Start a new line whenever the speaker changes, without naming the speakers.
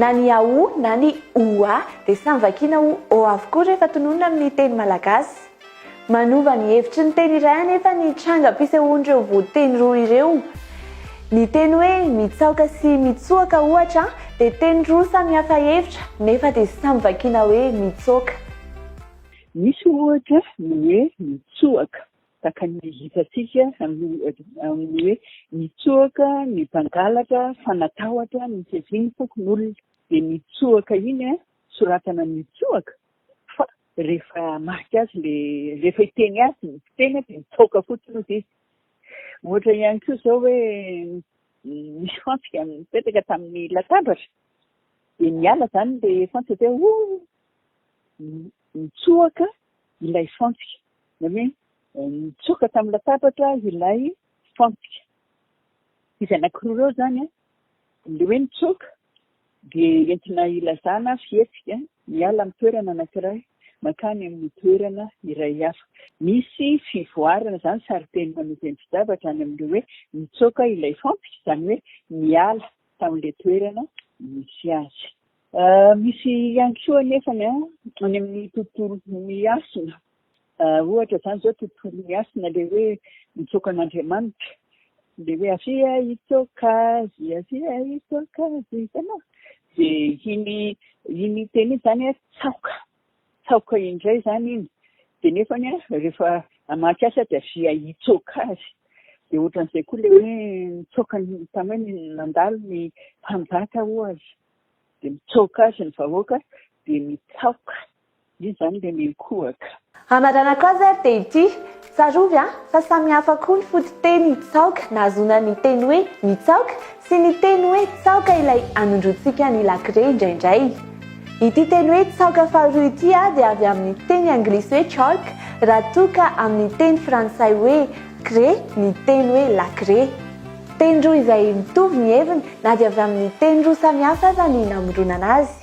Na ny a o na ny o a dia samy vakiana ho o avokoa rehefa tononina amin'ny teny malagasy. Manova ny hevitry ny teny iray anefa ny trangam-pisehoan'ireo voanteny roa ireo. Ny teny hoe mitsaoka sy mitsoaka ohatra dia teny roa samihafa hevitra nefa dia samy vakiana hoe mitsoaka.
Misy ohatra ny hoe mitsoaka Tahaka ny hitantsika amin'ny hoe mitsoaka ny mpangalatra fa natahotra ny fiavian'ny fokonolona. Dia mitsoaka iny, soratana mitsoaka fa rehefa marika azy ilay, rehefa hiteny azy ny mpiteny dia mitsoaka fotsiny hozy izy. Ohatra ihany koa izao hoe nisy fantsika nipetraka tamin'ny latabatra dia niala izany ilay fantsika dia oh! mitsoaka ilay fantsika. na hoe nitsoaka tamin'ny latabatra ilay fantsika. Izy anankiroa ireo izany, ilay hoe nitsoaka dia entina hilazana fihetsika miala amin'ny toerana anankiray mankany amin'ny toerana iray hafa. Misy fivoarana izany sarin-teny manova endri-javatra any amin'ilay hoe nitsoaka ilay fantsika, izany hoe niala tamin'ilay toerana nisy azy. Misy ihany koa anefa ny any amin'ny tontolo miasina, ohatra izany izao tontolo miasina ilay hoe mitsoaka an'Andriamanitra, ilay hoe avia hitsoaka azy, avia hitsoaka azy, hitanao? Dia iny iny teny iny izany hoe tsaoka, tsaoka indray izany iny, dia nefa rehefa hamaky asa dia avia hitsoaka azy. Dia ohatran'izay koa ilay hoe nitsoaka ny, tany hoe nandalo ny mpanjaka ohatra. dia mitsoaka azy ny vahoaka dia mitsaoka izy izany dia miankohaka. Hamaranako azy
ary dia ity, tsarovy an, fa samy hafa koa ny fototeny tsaoka nahazoana ny teny hoe mitsaoka sy ny teny hoe tsaoka ilay anondroantsika ny lakire indraindray. Ity teny hoe tsaoka faharoa ity a dia avy amin'ny teny anglisy hoe chalk raha toa ka amin'ny teny frantsay hoe craie ny teny hoe lakire. Teny roa izay mitovy ny heviny na dia avy amin'ny teny roa samihafa aza ny namoronana azy.